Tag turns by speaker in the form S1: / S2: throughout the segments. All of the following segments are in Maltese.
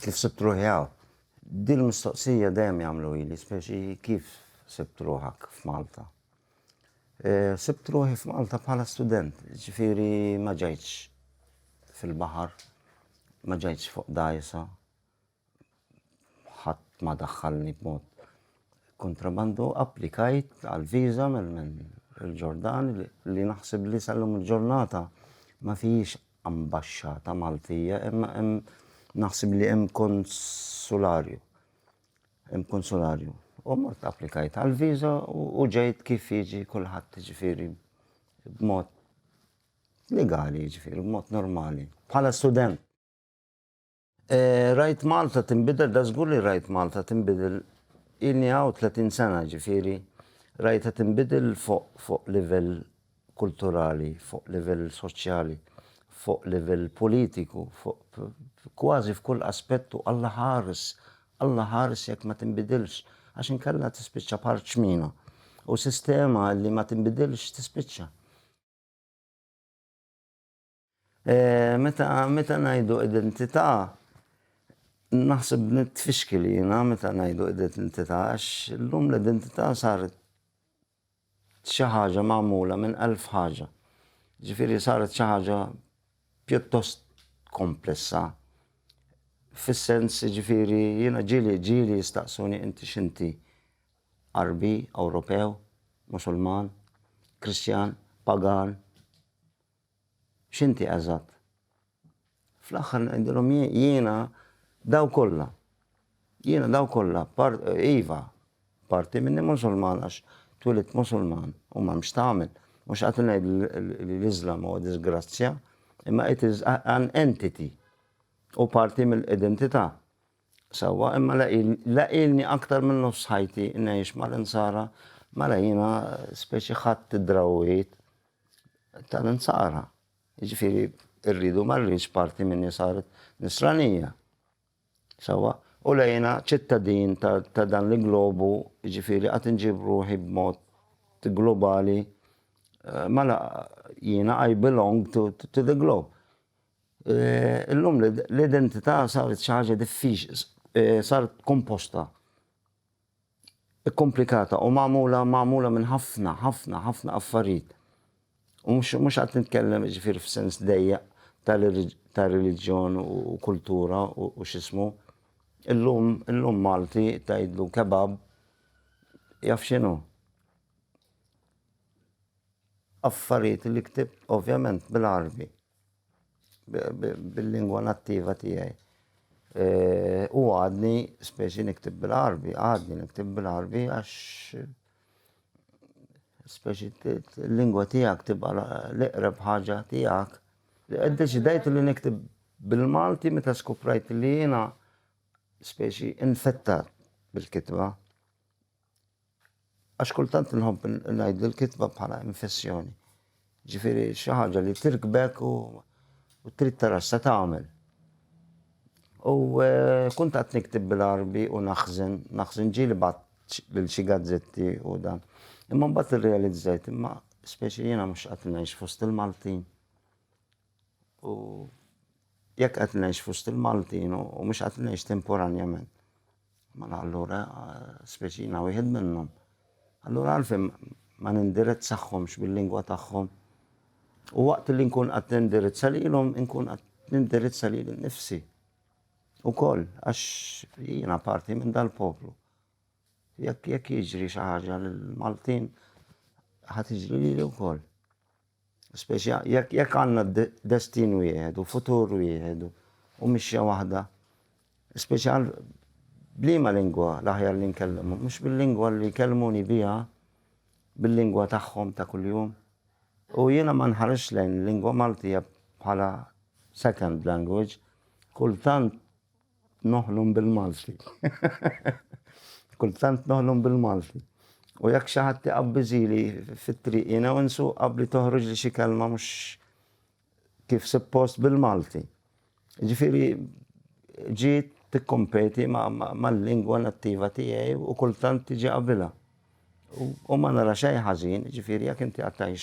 S1: Kif sibt ruħi hawn? Din il-mistoqsija dejjem jagħmluhili, speċi kif sibt ruħak f'Malta? Sibt ruħi f'Malta bħala student, ġifieri ma ġejtx fil-baħar, ma ġejtx fuq dajsa, ħadd ma daħħalni b'mod kontrabandu applikajt għal viża minn il-Ġordan li naħseb li sallum il-ġurnata ma fijiex ambaxxata Maltija, imma hemm naħseb li hemm konsularju. Hemm konsularju. U mort applikajt għal viża u ġejt kif jiġi kulħadd ġifieri b'mod legali ġifieri b'mod normali. Bħala student. Rajt Malta tinbidel, da żgur li rajt Malta tinbidel. Ilni hawn 30 sena ġifieri rajtha tinbidel fuq livell kulturali, fuq livell soċjali, fuq livell politiku, fuq kważi f'kull aspett u Alla ħares, Alla ħares jekk ma tinbidilx, għax inkella tispiċċa bħal ċmina. U sistema li ma tinbidilx tispiċċa. Meta meta ngħidu identità naħseb nitfixkel jiena meta ngħidu identità għax illum l-identità saret xi ħaġa magħmula minn elf ħaġa. Ġifieri saret xi ħaġa pjuttost komplessa. Fis-sens ġifieri jiena ġieli ġieli jistaqsuni inti x'inti? Għarbi, Ewropew, Musulman, Kristjan, Pagan, x'inti eżatt. Fl-aħħar ngħidilhom jiena daw kollha. Jiena daw kollha, iva, parti minni Musulman għax twilidt Musulman u m'hemm x'tagħmel. Mhux qed ngħid li l-Iżlam huwa diżgrazzja, imma it is an entity u parti mill-identità. Sewwa, imma la ilni aktar minn nofs ħajti ngħix mal-Insara, mela jiena speċi ħadt id-drawwiet tal-Insara. Jiġifieri rridu ma rridx parti minni saret Nisranija. Sewwa, u la jiena ċittadin ta' dan l-globu, jiġifieri għad inġib ruħi b'mod globali, eh, mela jiena I belong to, to the globe. Illum l-identità saret xi ħaġa diffiċli, saret komposta, ikkomplikata u magħmula magħmula minn ħafna, ħafna, ħafna affarijiet. U mhux qed nitkellem jiġifieri f'sens dejjaq ta' reliġjon u kultura u x'ismu. Illum, illum Malti tgħidlu kebab jaf x'inhu. Affarijiet li ktibt ovvjament bil-Għarbi. bil-lingwa nattiva tiegħi. E, u għadni, speċi niktib bil-arbi, għadni niktib bil-arbi għax speċi l-lingwa tiegħek tibqa l-iqreb ħaġa tiegħek. Deċidajt li niktib bil-Malti meta skuprajt li jiena speċi infettat bil-kitba. Għax kultant nħobb ngħid l-kitba bħala infessjoni. Ġifieri xi ħaġa li tirkbek u trid tara se tagħmel. U eh, kuntat niktib bil-arbi u naħżen, naħżen ġieli bat lil xi gazzetti u dan. Imma mbagħad irrealizzajt imma speċi jiena mhux qed ngħix fost il-Maltin. U jekk qed ngħix fost il-Maltin u mhux qed ngħix temporanjament, mela allura speċi jiena wieħed minnhom. Allura għalfejn ma nindirizzahomx bil-lingwa tagħhom u waqt li nkun qed nindirizza lilhom inkun qed nindirizza lili nnifsi ukoll għax jiena parti minn dal-poplu. Jekk jekk jiġri xi ħaġa lill-Maltin ħa tiġri lili wkoll. Speċja, jekk, jekk għandna destin wieħed u futur wieħed u mixja waħda, speċja b'liema lingwa l-aħjar li nkellimhom? Mhux bil-lingwa li jkellmuni biha, bil-lingwa tagħhom ta' kuljum? U jiena ma nħarisx lejn il-lingwa Maltija bħala second language, kultant, noħlom bil-Malti. Kultant noħlom bil-Malti. U jekk xi ħadd iqabbiżili fit-triq jiena u nsuq qabli toħroġ li xi kelma mhux kif suppost bil-Malti. Ġifieri ġiet tikkompeti mal-lingwa nattiva tiegħi u kultant tiġi qabilha. U ma nara xejn ħażin, ġifieri jekk inti għattajx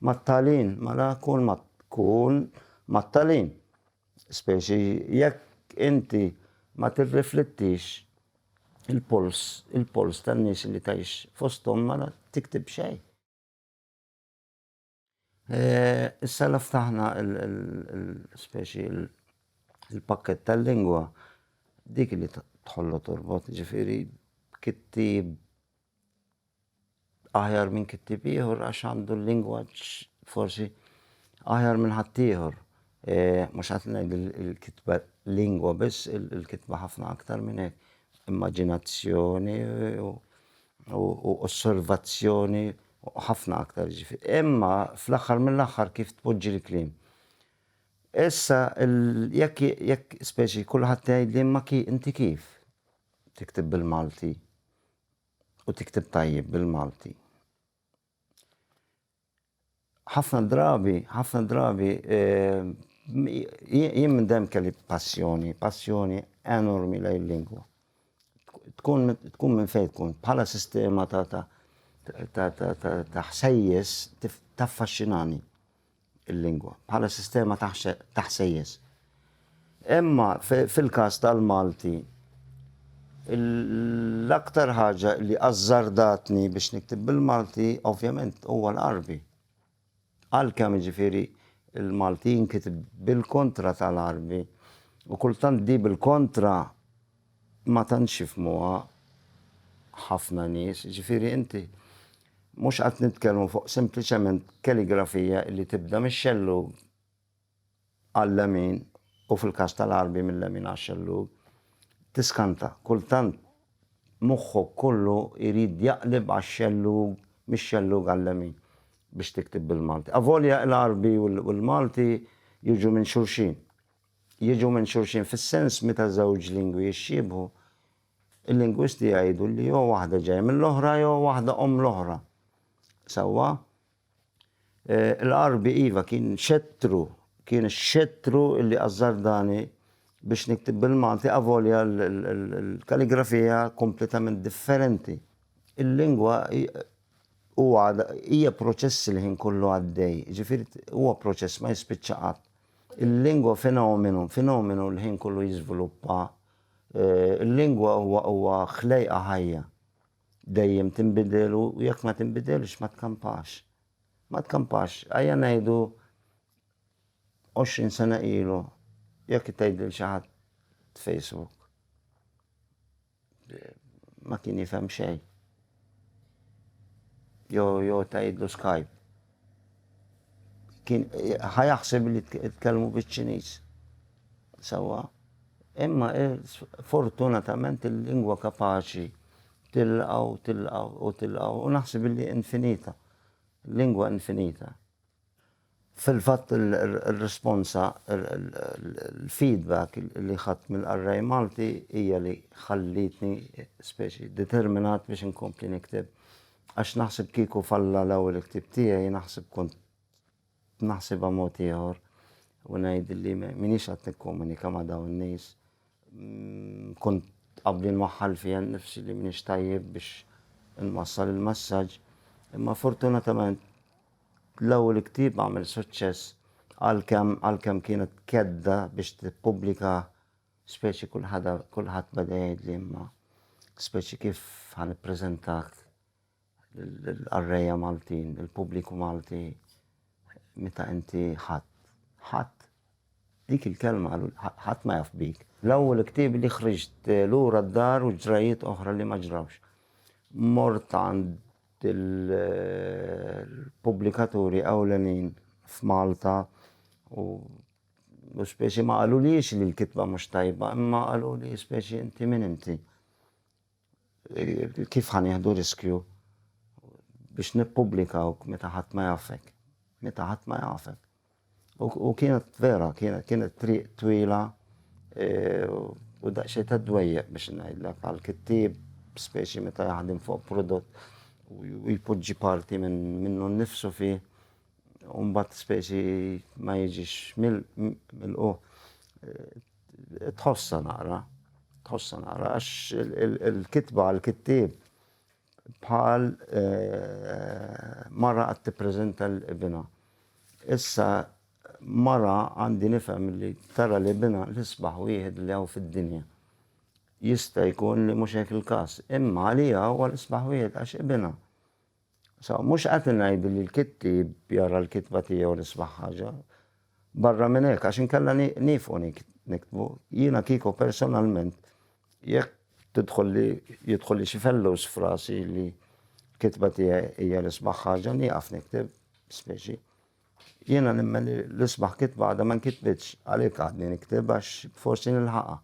S1: mat-talin, mela kun mat-talin. Speċi jekk inti ma tirriflittix il-polls il-polls tan-nies li tgħix fosthom ma tiktib xejn. Issa la ftaħna l-speċi l-pakkett tal-lingwa dik li tħollu torbot, ġifieri kittieb aħjar minn kittieb ieħor għax għandu l-lingwaġġ forsi aħjar minn ħaddieħor. E, mhux qed ngħid il-kitba lingwa biss, il-kitba ħafna aktar minn hekk. Immaġinazzjoni u osservazzjoni ħafna aktar ġifi. Imma fl-aħħar mill-aħħar kif tpoġġi l-kliem. Issa jekk jekk speċi kulħadd tgħid li ma ki inti kif tiktib bil-Malti u tikteb tajjeb bil-Malti. Ħafna drabi, ħafna drabi, eh, jien minn dem kelli passjoni, passjoni enormi lejn lingwa. Tkun tkun minn fejn tkun bħala sistema ta' ta' ta' ta' ta' ħsejjes taffaxxinani. il-lingwa bħala sistema ta' ħsejjes. Imma fil-każ tal-Malti, l-aktar ħaġa li azzardatni biex niktib bil-Malti, ovvjament, huwa l-Arbi. Għalkemm ġifiri il-Malti jinkitib bil-kontra tal-Arbi, u kultant di bil-kontra ma tantx jifhmuha ħafna nies, jiġifieri inti mhux qed nitkellmu fuq sempliċement kaligrafija li tibda mix-xellug għal-lemin u fil-każ tal-Għarbi mil-lemin għax-xellug, tiskanta, kultant moħħok kollu jrid jaqleb għax-xellug mix-xellug għal-lemin biex tikteb bil-Malti. Avolja l-Għarbi u l-Malti jiġu minn xulxin. jiġu minn xulxin fis-sens meta żewġ lingwi jixxiebħu, il-lingwisti jgħidu li jew waħda ġejja mill-oħra jew waħda omm l-oħra. Sewwa? E, Il-Għarbi iva kien xettru, kien xettru li azzardani biex niktib bil-Malti avolja l-kaligrafija kompletament differenti. Il-lingwa u għada hija proċess il-ħin kollu għaddej, ġifieri huwa proċess ma jispiċċa qatt. Il-lingwa fenomenu, fenomenu l-ħin kollu jiżviluppa. Eh, il-lingwa huwa huwa ħlejqa ħajja. Dejjem tinbidel u jekk ma tinbidelx ma tkampax. Ma tkampax, għajja ngħidu 20 sena ilu jekk tgħidil xi ħadd Facebook. Ma kien jifhem xejn. Jo, jo, tajidlu skajb. Kien ħajaħseb li tkellmu biċ-Ċiniż. Sawa. Imma eh, fortunatament il-lingwa kapaċi tilqaw, tilqaw u tilqaw u naħseb li infinita. Lingwa infinita. Fil-fatt ir-responsa, il-feedback li ħadt mill-qarrej Malti hija li ħallietni speċi determinat biex inkompli nikteb. Għax naħseb kieku falla l-ewwel ktieb tiegħi naħseb kont naħsibha mod ieħor u ngħid li m'iniex qed nikkomunika ma' dawn in-nies Kont qabli nwaħħal fija nnifsi li m'iniex tajjeb biex inwassal il-messaġġ, imma fortunatament l-ewwel ktieb għamel suċċess għalkemm għalkemm kienet kedda biex tippubblika speċi kulħadd beda jgħidli imma speċi kif ħa nippreżentak l-qarrejja Maltin, il-pubbliku Malti, meta inti ħadd, ħadd, dik il-kelma ħadd ma jaf bik. L-ewwel ktieb li ħriġt lura d-dar u ġrajiet oħra li ma ġrawx. Mort għand il-pubblikaturi ewlenin f'Malta u u speċi ma qalulix li l-kitba mhux tajba, imma qalu li speċi inti min inti. Kif ħa nieħdu riskju biex nippubblikawk meta ħadd ma jafek? Meta ħadd ma jafek. U kienet vera, kienet triq twila e, u daqsxejn ta' dwejjaq biex ngħidlek għal kittieb, speċi meta jaħdem fuq prodott u jpoġġi parti minnu nnifsu fi, u mbagħad speċi ma jiġix mill-qu. Tħossa naqra, tħossa naqra, għax il-kitba għal-kittib bħal eh, mara għat t-prezenta l-ibina. Issa mara għandi nifem li tara li bina l-isbaħ wieħed li għaw fid-dinja. Jista' jkun li mhux hekk il-każ, imma li għaw għal isbaħ wieħed għax ibina. So, mhux qed ingħid li l-kittieb jara l-kitba tiegħu l-isbaħ ħaġa. Barra minn hekk, għax inkella nifqu niktbu, jiena kieku personalment jekk tidħol li jidħol li xi fellus frasi li kitba tiegħi hija l-isbaħ ħaġa nieqaf nikteb speċi. Jiena nimmen li l-isbaħ kitba għadha ma nkitbitx għalhekk għadni nikteb għax forsi nilħaqha.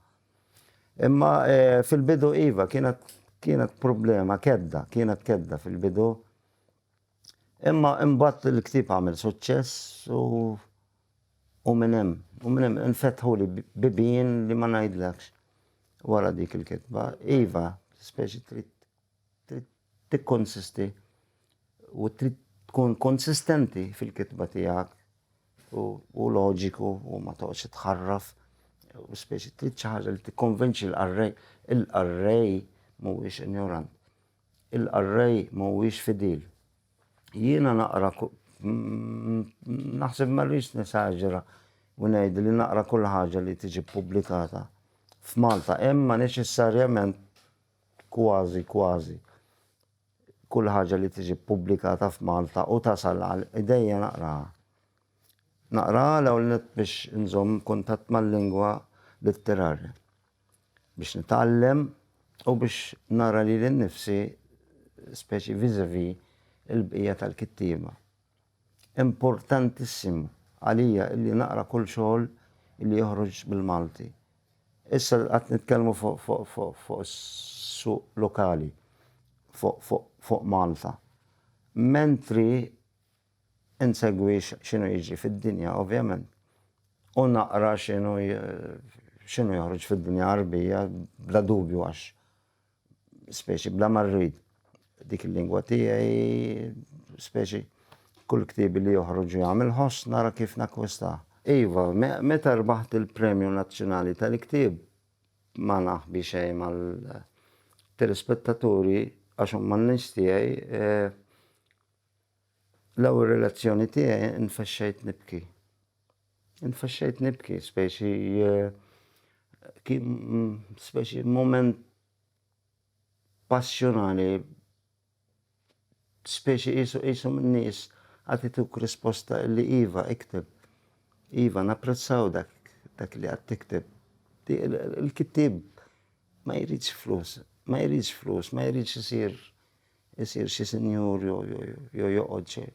S1: Imma eh, fil-bidu iva kienet kienet problema kedda, kienet kedda fil-bidu. Imma imbagħad il-ktieb għamel suċċess u u minn hemm, u minn hemm infetħu li bibien li ma ngħidlekx wara dik il-kitba. Iva, speċi trid tikkonsisti u trid tkun konsistenti fil-kitba tiegħek u loġiku u ma toqgħodx tħarraf u speċi trid xi ħaġa li tikkonvinċi l-qarrej. Il-qarrej mhuwiex injorant. Il-qarrej mhuwiex fidil. Jiena naqra naħseb ma rridx nesaġera u ngħid li naqra kull ħaġa li tiġi ppubblikata f'Malta, imma neċessarjament kważi kważi kull ħaġa li tiġi ppubblikata f'Malta u tasal għal idejja naqraha. Naqraha l-ewwel nett biex inżomm kuntatt mal-lingwa litterarja, biex nitgħallem u biex nara lili nnifsi speċi vis-a-vis il-bqija tal-kittieba. Importantissimu għalija illi naqra kull xogħol illi joħroġ bil-Malti. Issa li qed nitkellmu fuq is-suq lokali fuq Malta. Mentri insegwi x'inhu jiġri fid-dinja ovvjament u naqra x'inhu joħroġ fid-dinja Għarbija bla dubju għax Speċi bla ma rrid dik il-lingwa tiegħi, speċi kull ktiebi li joħroġ jagħmel ħoss nara kif nakkwistah. Iva, meta rbaħt il-Premju Nazzjonali tal-Ktieb ma naħbi xejn mal-telespettaturi għax huma n-nies tiegħi, L-ewwel relazzjoni tiegħi nfexxejt nibki. Nfexxejt nibki, specie kien specie mument passjonali, specie qisu qisu min-nies qed ituk risposta li iva ikteb, iva napprezzaw dak dak li qed tikteb. Il-kittieb ma jridx flus, ma jridx flus, ma jridx isir isir xi sinjur jew joqgħod xi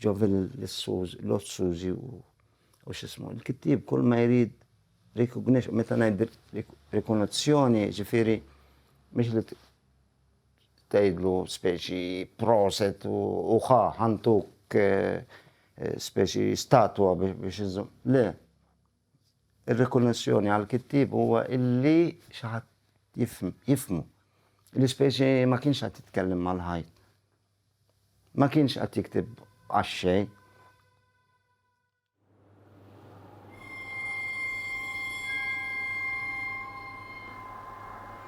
S1: ġo l-Lord Suzy u x'ismu. Il-kittieb kull ma jrid recognition, meta ngħid rikonozzjoni, ġifieri mhix li tgħidlu speċi proset u ħa ħantuk eh, eh, speċi statwa biex iżżum. Le, Ir-rikonoxxjoni għall-kittieb huwa illi xi ħadd jifhmu. L-ispeċi ma kienx qed jitkellem mal-ħajt. Ma kienx qed jiktib għax-xejn.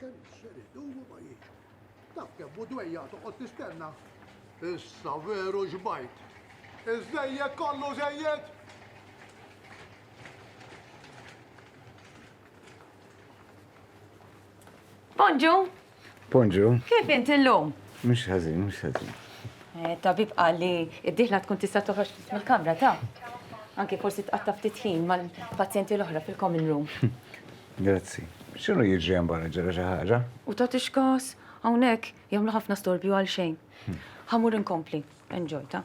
S2: Kemm ser idumu ma jiġu. Taf kemm u dwejja toqgħod tistenna. Issa veru xbajt. Iż-żejjed kollu żejjed.
S3: Bonġu, Ponġu.
S4: Kif int illum?
S3: Mhux ħażin, mhux
S4: ħażin. Eh,
S3: tabib qal li d-dieħla tkun tista' toħroġ mill-kamra ta' anke forsi tqatta' ftit ħin mal-pazjenti l-oħra fil-common room. Grazzi.
S4: X'inhu jiġri hemm barra ġara xi ħaġa? U ta' tixkas
S3: hawnhekk jagħmlu ħafna storbju għal xejn. Ħamur inkompli. Enjoy ta'.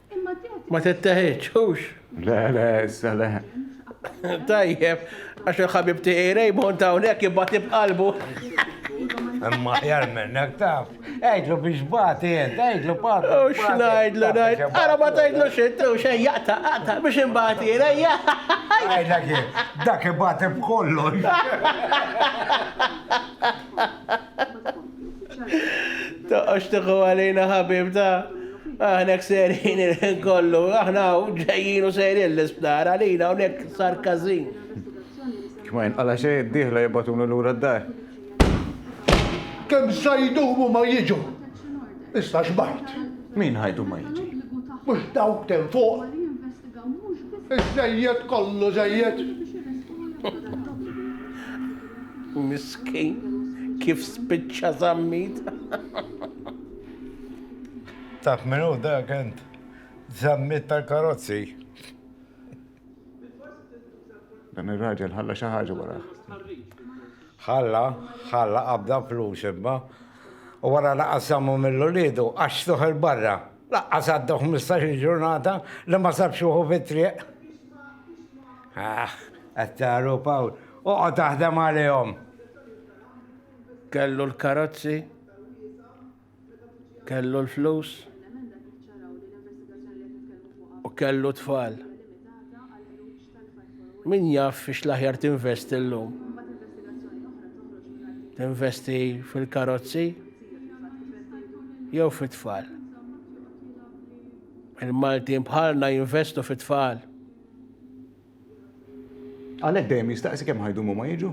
S5: Ma tetteħidx, hux?
S6: Le, le,
S4: issa le. Tajjeb,
S6: għax il-ħabib tiegħi Raymond hawnhekk jibgħati b'qalbu.
S7: Imma ħjar minnek taf. Għajdlu biex bati jent, għajdlu bati. U xnajdlu,
S6: najd. Għara ma tajdlu xittu, xej jaqta, għata, biex imbati jena, Għajdla kien,
S7: dak bati b'kollu.
S6: Toqgħodx tieħu għalina ħabib ta' aħna serin il-ħin kollu, aħna ġejjin u serin l-isptar għalina hawnhekk sar każin. Kma
S4: jinqala xejn diħla jibatuna lura d-dar.
S2: Kemm sa jdumu ma jiġu. Issa xbajt. Min ħajdu ma
S4: jiġi? Mhux dawk
S2: ten fuq.
S5: Iżejjed kollu
S2: żejjed.
S5: Miskin,
S6: kif spiċċa Zammit?
S7: Taf min hu dak int? Zammit tal-karozzi.
S4: Dan ir-raġel ħalla xi ħaġa wara.
S7: Ħalla, ħalla qabda flus imma. U wara laqas żammu mill-uliedu għax toħel barra. Laqqas għaddew ħmistax-il ġurnata li ma sabx ruħu fit-triq. Aħ, qed tagħru Pawl, oqgħod taħdem għalihom. Kellu
S6: l-karozzi, kellu l-flus, u kellu tfal. Min jaf fiex l-aħjar tinvesti llum? Tinvesti fil-karozzi jew fit-tfal? Il-Maltin bħalna jinvestu fit-tfal.
S4: Għalhekk dejjem jistaqsi kemm ħajdumu ma jiġu?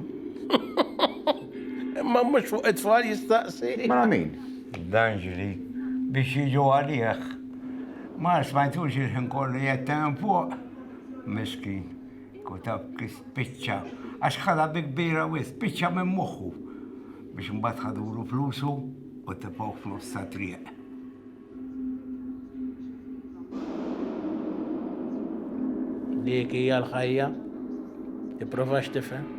S6: Imma mhux fuq it-tfal jistaqsi. Ma mela min?
S4: D'Angeli
S7: biex jiġu għalih. Ma smajtux il-ħin kollu jgħid hemm fuq. Miskin, kutaw kif spiċċa, għax ħala bi kbira wis, spiċċa minn moħħu biex mbagħad ħadulu flusu u tibgħu f'nofs ta' triq. Dik
S6: hija l-ħajja, tipprovax tifhem.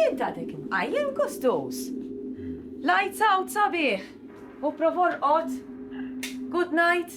S3: Int għadek imqajjem kustus. Lights out sabiħ. U provor qot. Good night.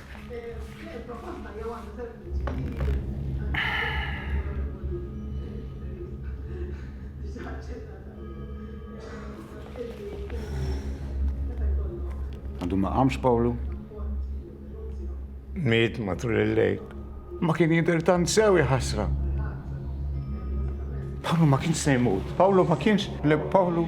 S4: Għandu ma għamx Pawlu?
S7: Miet matul il-lejl. Ma kien jidher
S4: tant sew ħasra. Pawlu ma kienx se jmut. Pawlu ma kienx. Le Pawlu.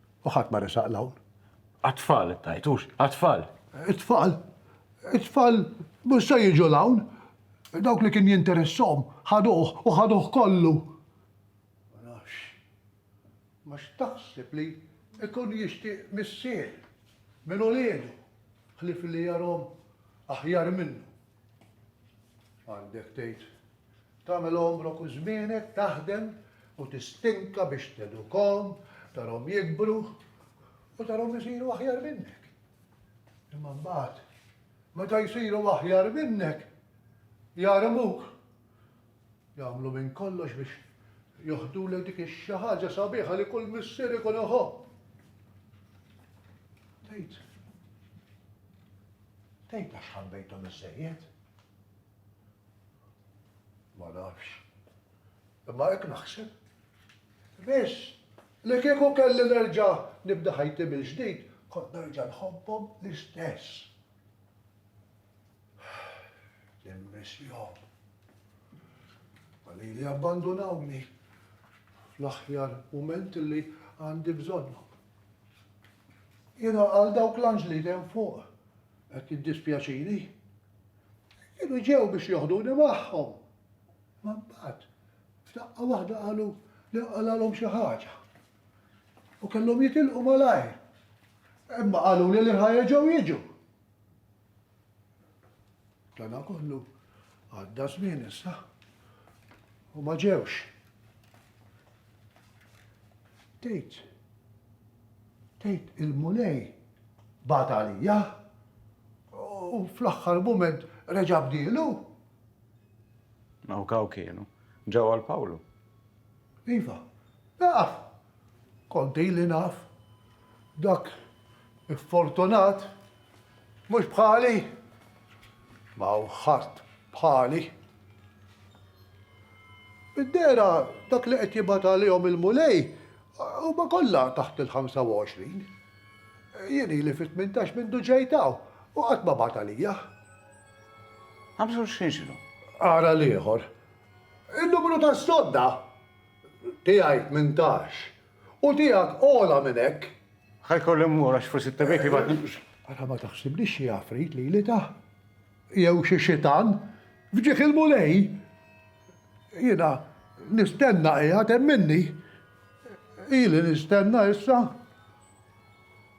S2: U ħadd ma resaq 'l hawn. Għat-tfal it-tajt, hux?
S4: Għat-tfal! It-tfal?
S2: It-tfal mhux se jiġu 'l hawn. Dawk li kien jinteressahom ħaduh u ħaduh kollu. Ma nafx. Ma x'taħseb li jkun jixtieq missier minn uliedu ħlief li jarahom aħjar minnu? Għandek tgħid Tagħmel għomrok u żmienek taħdem u tistinka biex tedukhom, tarhom jikbru u tarhom isiru aħjar minnek. Imma mbagħad, meta jsiru aħjar minnek, jarmuk. Jagħmlu minn kollox biex joħdulek dik ix-xi ħaġa sabiħa li kull missier ikun iħobb. Tgħid. Tgħid għax ħabbejthom iżejjed. Ma nafx. Imma hekk naħseb. Biss, li kieku kelli nerġa' nibda ħajti mill-ġdid, kont nerġa' nħobbhom l-istess. Nimmissjhom. Ma lili abbandunawni fl-aħjar mument li għandi bżonnhom. Jiena għal dawk l-anġli t'hemm fuq qed jiddispjaċini. Kienu ġew biex joħduni magħhom, imma mbagħad f'daqqa waħda qalu li nqalgħalhom xi ħaġa u kellhom jitilqu malajr. Imma qaluli li ħa jerġgħu jiġu. Dana kollu għadda żmien issa u ma ġewx. Bdejt tgħid il-Mulej bagħat għalija u fl-aħħar mument reġa' bdielu? Hawnk
S4: hawn kienu. Ġew għal Pawlu. Iva,
S2: naf. Kont ili naf. Dak Iffortunat? Mhux bħali? Ma hawn ħadd bħali. Mid-dehra dak li qed jibgħat għalihom il-Mulej huma kollha taħt il-25. Jien ili fi tmintax mindu ġejt hawn u qatt ma bagħat għalija.
S4: Għamżu x'inġlu? Ara l-ieħor.
S2: Il-numru tas-sodda tiegħi tmintax. U tiegħek ogħla minn hekk. Ħa jkolli mmur
S4: għax forsi t-tabib jibgħatni. Ara ma taħsibnix
S2: xi għafrit lili tah! Jew xi xitan! F'ġieħ il-Mulej! Jiena nistenna qiegħed hemm minni. Ili nistenna issa.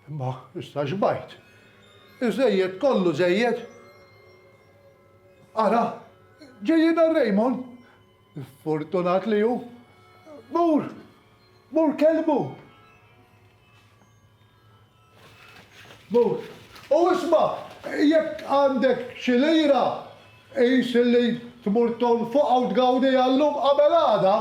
S2: Imma issa xbajt. Iżżejjed kollu żejjed. Ara, ġejjin għal Raymond! Fortunat li hu! Mur! Mur kellmu! Mur! U isma', jekk għandek xi lira, qis illi tmur tonfoqha u tgawdiha llum qabel għada.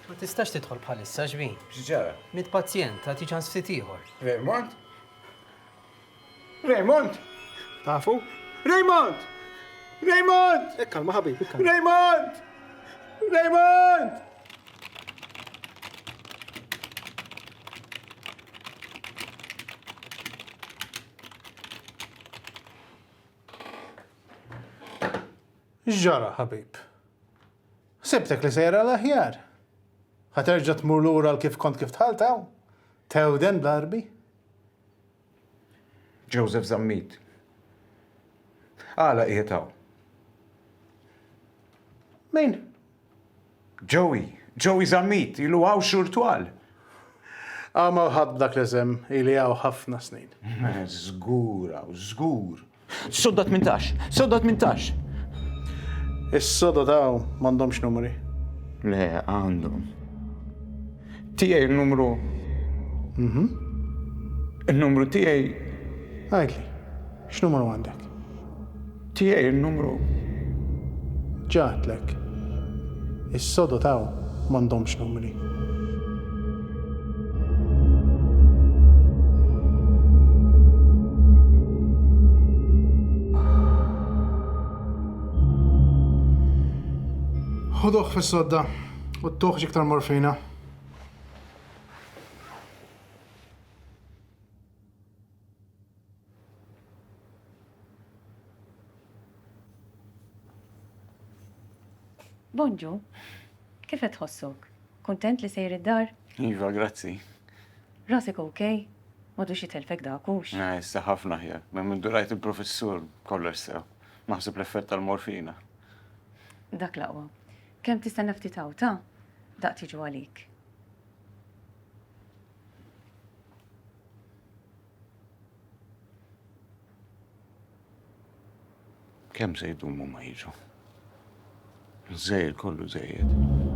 S8: Ma tistax tidħol bħalissa, x'bhi? X'ġara? Mitt
S4: pazjent,
S8: għad jiġi ħass ftit ieħor. Vermont?
S4: Raymond! Tafu?
S8: Raymond!
S4: Raymond! Ekka, ma ħabib, ekka.
S8: Raymond!
S4: Raymond!
S9: Ġara, ħabib. Sebtek li sejra l-aħjar. Ħaterġa tmur lura l-kif kont kif tħaltaw? Tewden darbi?
S4: Joseph Zammit. Għala qiegħed hawn?
S9: Min? Joey,
S4: Joey Zammit, ilu hawn xhur twal.
S9: Għama ħadd dak l-isem ili hawn ħafna snin. Żgur hawn, żgur.
S4: Sodda tmintax! Sodda tmintax!
S9: Is-sodod hawn m'għandhomx numri. Le,
S4: għandhom. Tiegħi n-numru. Mhm. In-numru tiegħi. Għidli,
S9: x'numru għandek? Tiegħi
S4: n-numru. Ġa għedtlek.
S9: Is-sodod hawn m'għandhomx numri. Ħuduh fis-sodda u ttuħ iktar morfina.
S3: Bonġu, kif qed tħossok? Kuntent li sejr id-dar? Iva, grazzi. Rasek
S4: ok?
S3: M'għadux jitellfek dak, hux? Eh, issa ħafna aħjar.
S4: Minn minn durajt il-professur kollox sew. Naħseb l-effett tal-morfina.
S3: Dak l-aqwa. Kemm tistenna ftit hawn ta' daq tiġu għalik.
S4: Kemm se jdumu ma jiġu? Żejjed kollu żejjed.